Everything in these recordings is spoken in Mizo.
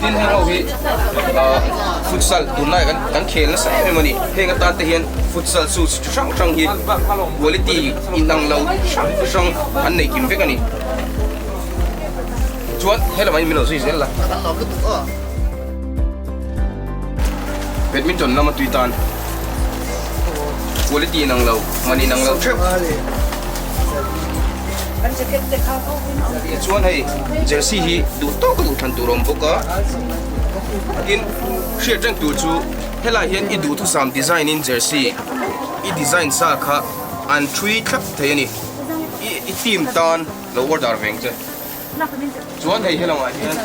Tin heng ho hi futsal tun lai kan khel nasa em em a ni. Heng atan te hian futsal shoes chi hrang hrang hi quality inang lo hrang hrang an nei kim vek a ni. Chuan he lamah hi min lo zui zel la. Badminton lama tui tan quality inang lo man inang lo theuh. Chuan hei jersey hi duh tawh ka duh than tur a awm bawk a. Tin hriat reng tur chu helai hian i duhthusam design in jersey i design sa kha an thui thlap thei a ni. I team tan lo order veng che. Chuan hei helangah hian--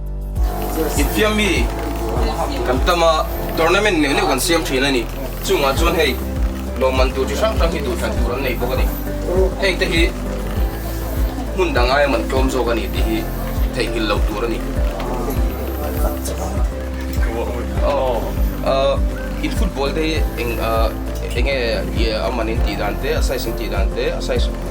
Infiam mi kan tam a, tournament neuh neuh kan siam thin a ni. Chungah chuan hei lawmman tur chi hrang hrang hi duhthlan tur an nei bawk a ni. Heng te hi hmun dang aia man tlawm zawk a ni tih hi theihnghilh lo tur a ni. In football te hi eng enge amanin tih dan te, a size in tih dan te, a size.